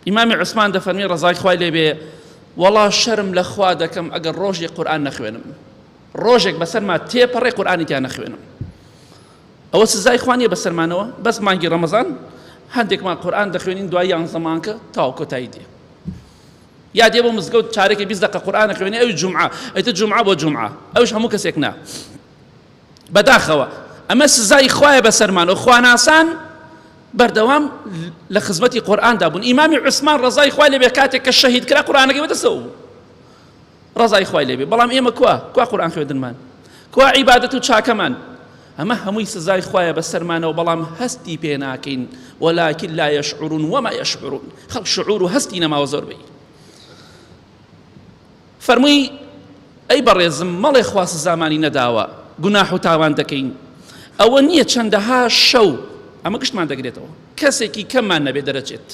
ئیمامی عوسمان دەفەرمی ڕەزای خوای لێبێ وەڵا شەرم لە خوا دەکەم ئەگەر ڕۆژێک قورآن نەخوێنم ڕۆژێک بەسەرما تێپەڕێ قورآانی تیا نەخوێنم ئەوە سزای خوانیە بەسەرمانەوە بەس مانگی ڕەمەزان هەندێکمان قورآن دەخوێنین دوای یان زەمانکە تاو کۆتایی دێ یا دێ بۆ مزگەوت چارێکی بیست دقە قورآانە خوێنێ ئەوی جمعە ئەیتە جمعە بۆ جمعە ئەوش هەموو کەسێک نا بەداخەوە ئەمە سزای خوایە بەسەرمان و خواناسان بەردەوام لە خزمەتی قورآاندا بوون ئیمامی عوسمان ڕزای خوای لەبێ کاتێک کە شەهید کرا قورآانەکەی بەدەسەوە بوو ڕزای خوای لەبێ بەڵام ئێمە کوا کوا قورآان خوێندنمان کوا عیباەت و چاکەمان ئەمە هەمووی سزای خوایە بەسەرمانەوە بەڵام هەستی پێ ناکەین وەلاکن لا یشعرون وما یشعرون خەڵک شعور و هەستی نەماوە زۆر بی فەرمووی، ئەی بەڕێزم مەڵێ خوا سزامانی نەداوە گوناح و تاوان دەکەین، ئەوە نییە چەندەها شەو، ئەمە گشتمان دەگرێتەوە، کەسێکی کەممان نەبێت دەرەچێت،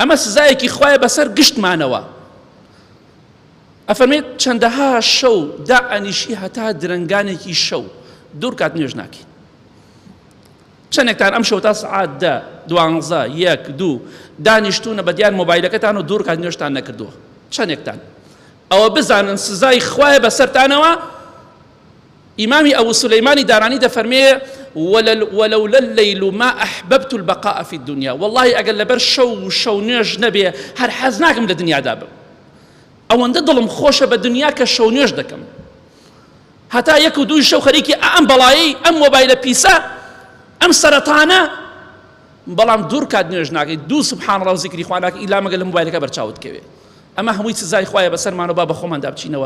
ئەمە سزایەکی خوایە بەسەر گشتمانەوە، ئەفەرمێت چەندەها شەو دائەنیشی هەتا درەنگانێکی شەو دوور کات نوێژ ناکەین. چەنێکتان ئەمشەو تا سەعات دە، دوانزە، یەک، دوو دانیشتوونە بەدیار مۆبایلەکەتان و دوورکات نوێژتان نەکردووە؟ چەنێکتان؟ ئەوە بزانن سزای خوایە بەسەرتانەوە، ئیمامی ئەبو سولەیمانی دارانی دەفەرمێ ولولا اللیل ما احببت البقاء فی الدنیا واللهی ئەگەر لەبەر شەو و شەو نوێژ نەبێ هەر حەز ناکەم لە دنیادا بم ئەوەندە دڵم خۆشە بە دنیا کە شەو نوێژ دەکەم هەتا یەک و دووی شەو خەریکی ئا ئەم بەڵایەی ئەم مۆبایلە پیسە ئەم سەرەتانە بەڵام دوور کات نوێژ ناکەیت دوو سبحان الله و زیکری خوا ناکەی ئیلا مەگە لە مۆبایلەکە بەرچاوت کەوێ ئەمە هەمووی سزای خوایە بەسەرمانەوە با بەخۆماندا بچینەوە